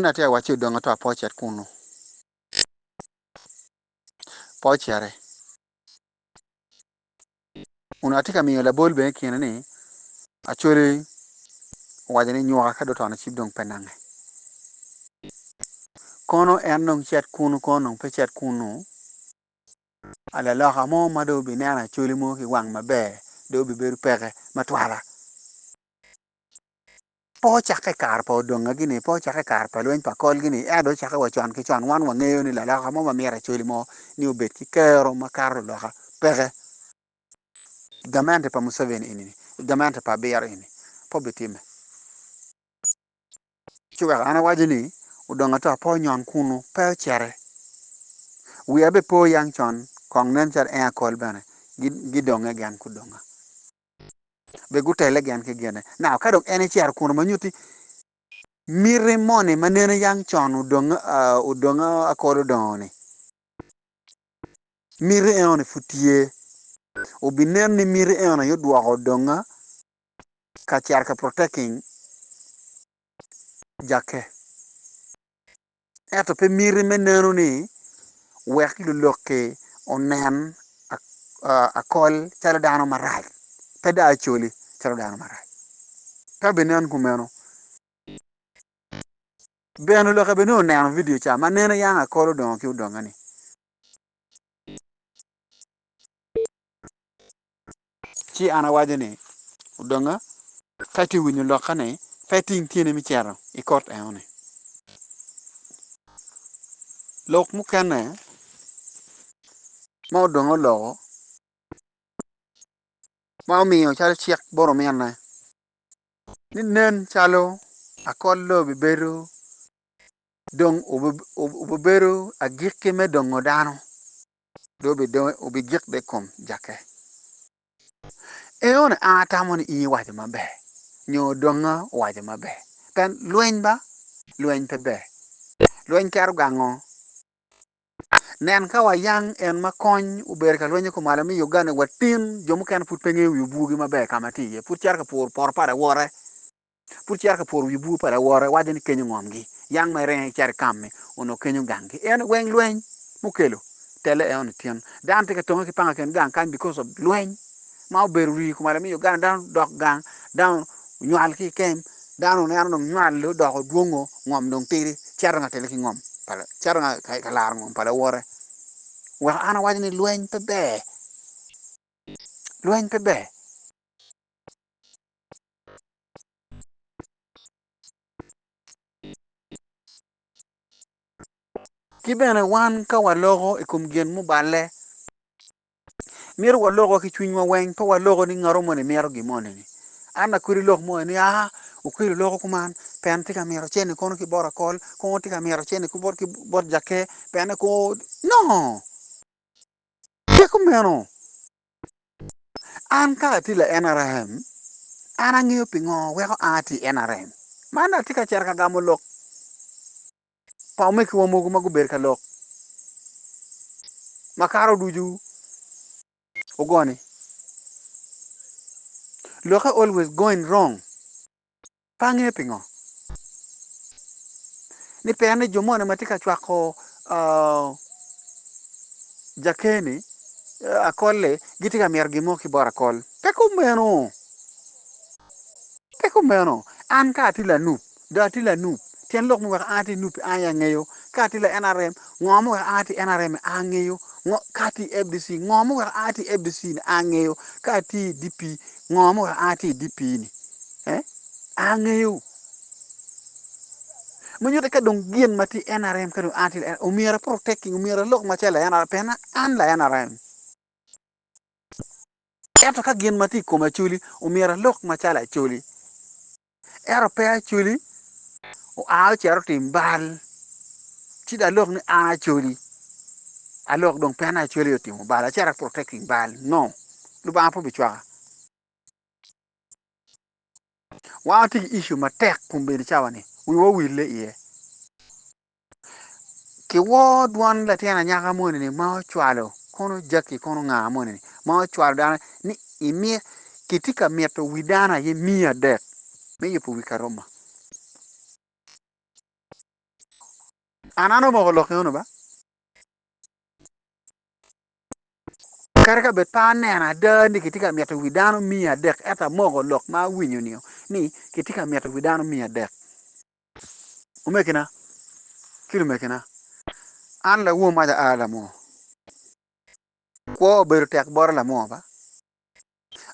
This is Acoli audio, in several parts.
Gin atye ka wacci odong ato apocet kunu. Pocere. Kun atye ka miyo labol bene kine ni Acholi owaco ni nywaka ka dong otono cip dong pe nange. Kono en dong cet kunu kono dong pe cet kunu. Laloka mo ma dong obineno Acholi mo ki wang maber dong obibedo peke ma twala. Pe ocakke i kare pa odongagi-ni, pe ocakke i kare pa lweny pa kolgi-ni, ento dong ocakke wa con ki con. Wan wangeyo ni laloka mo ma mito acoli mo ni obed ki kero makato luloka peke. I gamente pa Museveni eni, i gamente pa abiro eni, pe obitimme. Ci wek an awaco ni odong ata pe onyon kunu, pe ocere. Wiya bene pe oyang con, kong nen calo en akol bene, gidonge gen kudonga. be gutelle gen ki gine. Now, ka dong en ecito kunu ma nyutti miti moni ma nene yang con odong, uh, odong akodo dongo-ni, miti eno-ni pud tye. Obinen ni miti eno-ni aye odwoko odonga ka cito ka protecting Jakke. ento pe miti me neno ni wek luloki onen akol calo dano marac, pe dong acoli calo dano marac. Ka binen kumeno, ber lulokke bene oneno vidio ca ma neno yam akol odongo ki odonge-ni. Ci an awaco ni, Odonga ka itye winyo lokane, pe iting tyeni me cito i kot enoni. Lok mukene ma odonga oloko ma omiyo calo cik bot ominne ni nen calo akol lo bibedo dong obibedo agikki me dongo dano. dong obidongo obigik dong i kom jakke. Eone a atamo ni in iwaco maber nyo odonga owaco maber pien lweny ba lweny pe ber lweny kero gango nen ka wayang en ma kony obedo ka lwenyo kumalo me Uganda watin jo mukene pud pe ngeyo wi obuogi maber ka ma tye iye pud cito ka puro poto pa lawote. pud cito ka pworo wi bur pa lawote, waco ni kenyo ngomgi, yang ma irenge cito ikam-mi, onongo kenyo ganggi. Eno, weng lweny mukelo telle eno nitin. Dano tye ka tonge ki panga i kin gang kany because of lweny ma obedo rii i kom alamiyo gang, dano dok gang, dano onywal ki ikem, dano oneno dong nywal-le odoko dwongo, ngom dong tidi, cito dong ka telle ki ngom pa, cito dong ka, ka laro ngom pa lawote. Weko an awaco ni lweny pe ber, lweny pe ber. Ki bene wan ka waloko i kom gin muballe, myero waloko ki cwinywa weng pe waloko ni ngat moni mito gin moni ni, an aye kadi lok moni ni aa okelli loko kuman pien tye ka mito cen-ni kono ki bot akol kono tye ka mito cen-ni ki bot jakke pien-ni kono no! Pe kumeno. An ka atye la NRM, an angeyo pingo weko a ki i NRM. Man dong atye ka cito ka gamo lok pa omegiwa mogo ma gubedo ka lok ma kato ducu ogone. Lokke always going wrong. Pe angeyo pingo ni peya ni jo moni ma tye ka cwako jakeni akol-li gitye ka mito gin mo ki bot akol. Pe kumeno! Pe kumeno! An ka atye lanup, dong atye lanup, tyen lok ma weko an atye nup-pi an aye angeyo. Ka atye la NRM, ngo ma weko an atye NRM-mi an angeyo. Ka atye i FDC, ngo ma weko an atye i FDC-ni an angeyo. Ka atye i DP, Ngo ma oa ki i dye pii-ni? Ee, angeyo. Ma nyutte ka dong gin ma tye NRM ka dong a ki i omyero a protecting, omyero alok macalo layan NRM pien an layan NRM. Ento ka gin ma tye i kome Acholi, omyero alok macalo Acholi. Ento pe Acoli oa ocito otim bal, ci dong alok ni an Acoli alok dong pien Acoli otimo bal acito aprotecting bal. No, Lubanga pe obicwaka. Wan watye ki issue matek kun bedo cawa ni wiwa owille iye. Kiwor dwon latin anyaka moni ma ocwalo kono Jackie kono nga moni ma ocwalo dano ni imit kitye ka mito wi dano aye miya adek me yubo wi Karoma. An an omoko lok eno ba. Kadi ka bed pe aneno ada ni kitye ka mito wi dano miya adek ento amoko lok ma awinyo ni ni kitye ka mito wi dano miya adek. Omegina ki lumegina, an lawomo ma aa lamoo, kwo obedo tek bota lamoo ba.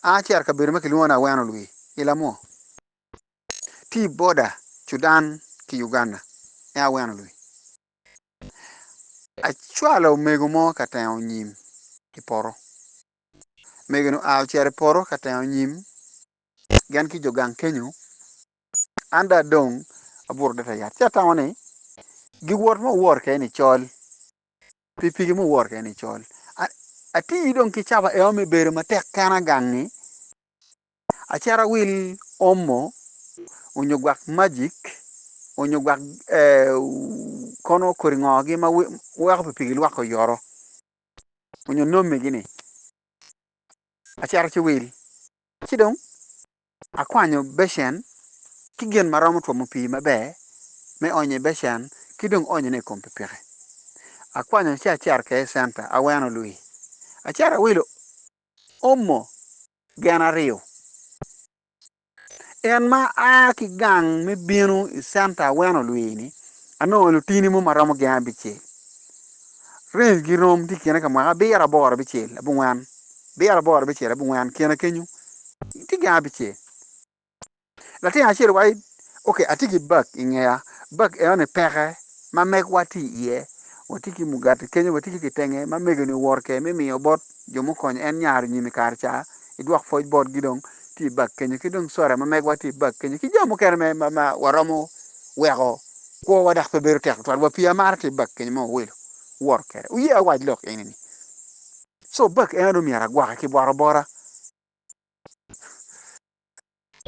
An acito i kabedo ma kilwongo ni Aweno Lwii i Lamoo, tye i boda Cudan ki Uganda, en Aweno Lwii. Acwalo omego mo ka tengo nyim i poto, omego-ni oa ocito i poto ka tengo nyim, gin ki jo gang kenyo An dong adong abuto adada yat. Ci atamo ni giwot ma wuwor kene ni col, pikipiki ma wuwor kene ni col. Ati dong ki caba ema me bedo matek kena gangi, acito awil omo onyo gwak magic onyo gwak kono kodi ngo gi ma weko pikipiki lwak oyoto onyo nomi gi ni acito ci wil ci dong Akwanyo becen ki gin ma romo twomo pii maber me onyo i becen ki dong onyone i kom pikipiki. Akwanyo ci acito kwede i centa, aweno lwii. Acito awilo omo gin aryo. In ma aa ki gang me bino i centa aweno lwii-ni, anongo lutini mo ma romo gin abicel. Rangegi rom tye i kine ka mwaki abiro, aboro, abicel, abongwen. Biyero aboro bicer abongwen kena kenyo tye gin abicer. Latin acel waco ni, Ok, atye ki bag i ngeya. Bag enoni peke ma megwa tye iye. Watye ki mugati kenyo, watye ki kitenge ma mego-ni owoto kwede me miyo bot jo mukonyo en nyare i nyim i kare ca, idwok pwoc botgi dong tye i bag kenyo, ki dong soda ma megwa tye i bag kenyo, ki jami mukene ma waromo weko kwowa dok pe bedo tek tutwal wa pi amara tye i bag kenyo ma wawelo, wuwoto kwede. Wuye awac lok eni-ni? So bag eno dong myero agwoke ki bwot obora.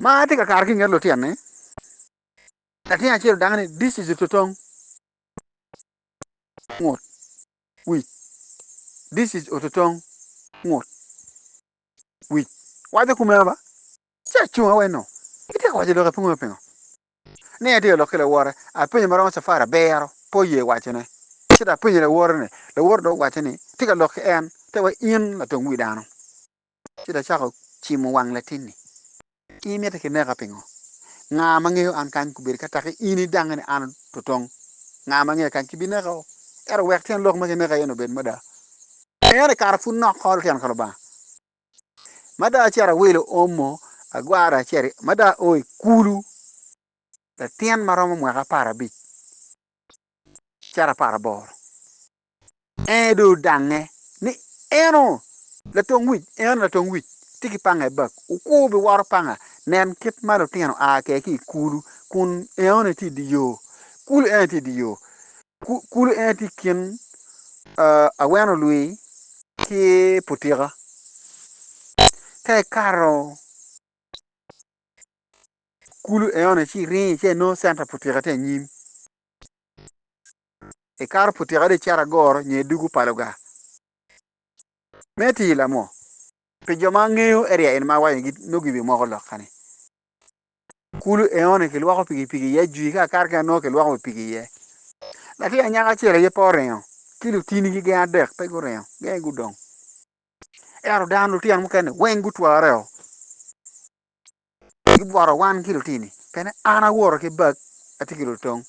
Ma atye ka kato ki nget lutyen ni. Latin acel odang ni this is ototong. Ngut. Wic. This is ototong. Ngut. Wic. Waco kumeno ba. Ci acung aweno. Itye ka waco lok apungu me pingo. ni atye ka lok ki lawote, apenyo ma romo cafari abiro, pe oye wacone. Ci dok apenyo lawote ni, lawote dong owacce ni, Atye ka lok ki en, te wa in latung wi dano. Ci dong acako cimo wang latinni. In imito ki neka pingo? Nga ma ngeyo an kany kubedi ka tek in idange ni an ototong? Nga ma ngeya kany ki bineka o? Ento wek tyen lok ma kineka iye-ni obed mada. Pien ikato pud nok kor lutino ka Lubanga. Mada acito awilo omo agwara acel mada ao i kulu latin maromo mwaka apar abic cito apar aboro en aye dong odange ni en o latong wic en latong wic tye ki panga i bag okur biwoto panga nen kit ma lutino a kwede ki i kulu kun en aye tye i dye yo kulu en aye tye i dye yo Kulu en aye tye i kin aweno lwi ki putika. Ka ikato kulu eno-ni ci iringo ci inongo centa putika tye anyim, ikato putika dong icito agoro nyo i dugu pa lugar. Me tii lamo, pi jo ma ngeyo area eni ma awaco-ni nongo gibimoko lok kany. Kulu eone kilwoko pikipiki iye jwi ka akato ki anongo kilwoko wi piki iye. Latin anyaka acel aye pe oringo, ki lutinigi gin adek pe guringo, gin aye gudong. Ento dano lutino mukene weng gutwareo. Gibworo wan ki lutini pien an awoto ki bag atye ki lutong.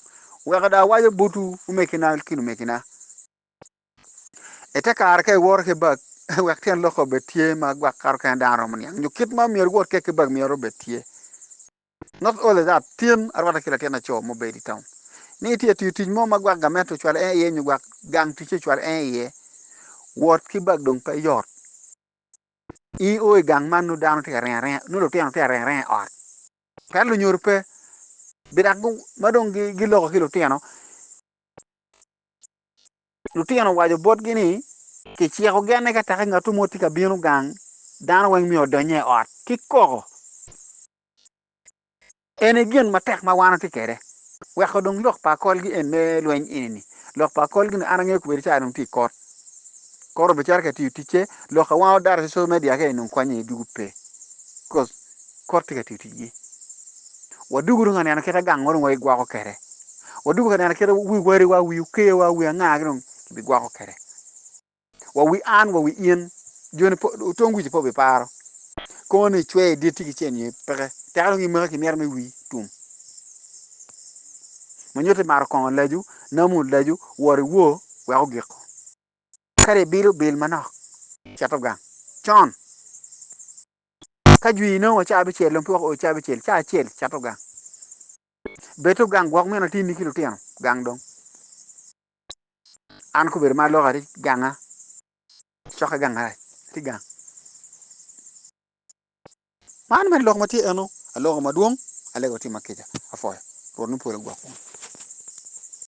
Wek dong awaco botwu omegina ki lumegina. I te kare ka iworo ki bag, wek tyen lok obed tye ma gwak kato kene dano romo niang nyo kit ma myero iwot kwede ki bag myero obed tye. Not only that, tyen arwata ki latin laco ma obedo i taun. Ni itye tiyo tic mo ma gwak gamente ocwalo en iye nyo gwak gang ticce ocwalo en iye, wot ki bag dong pe yot. In o i gang man nongo dano tye ka ringo aringa, nongo lutino tye ka ringo aringa i ot. Pien lunyodo pe, bidak ma dong giloko ki lutino. Lutino owaco botgi ni, Kiciko genne ka tek ngatwu mo tye ka bino gang, dano weng myero odonye i ot ki koko. Eni gin matek ma wan watye kwede. Weko dong lok pa akolgi en me lweny eni-ni. Lok pa akolgi ni an angeyo kubedi cawa dong tye i kot. Kore obicere ka itiyo ticce, lok a wang odato ki social media kene dong konyo aye dwogo pe. Kor tye ka tiyo ticgi. Wadwogi dong ka neno kit ma gangwa dong wagigwoko kwede. Wadwogi ka neno kit ma wi wariwa, wi okewa, wi angagi dong kibigwoko kwede. Wa wi an, wa wi in, joni pe, otong wic-ci pe obiparo. Kongo ni icwe i dit-ti kicel nyo peke. Teka dong imaki ki myero me wii tum. Ma nyuto ni maro kongo lacu, namu lacu, wor iwo wek ogiko. Kadi ibilo, bil manok. Cet ogang con. Ka jwi inongo wa ca abicel dong pe wako oo ca abicel, ca acel cato gang. Beto gang gwok mino atini ki lutino gang dong. An kubedo ma aloko ati ganga cokke gang arac ati gang. Man mene lok ma tye eno aloko madwong alego tye ma kica apwoyo Rwot me polo ogwok wunu.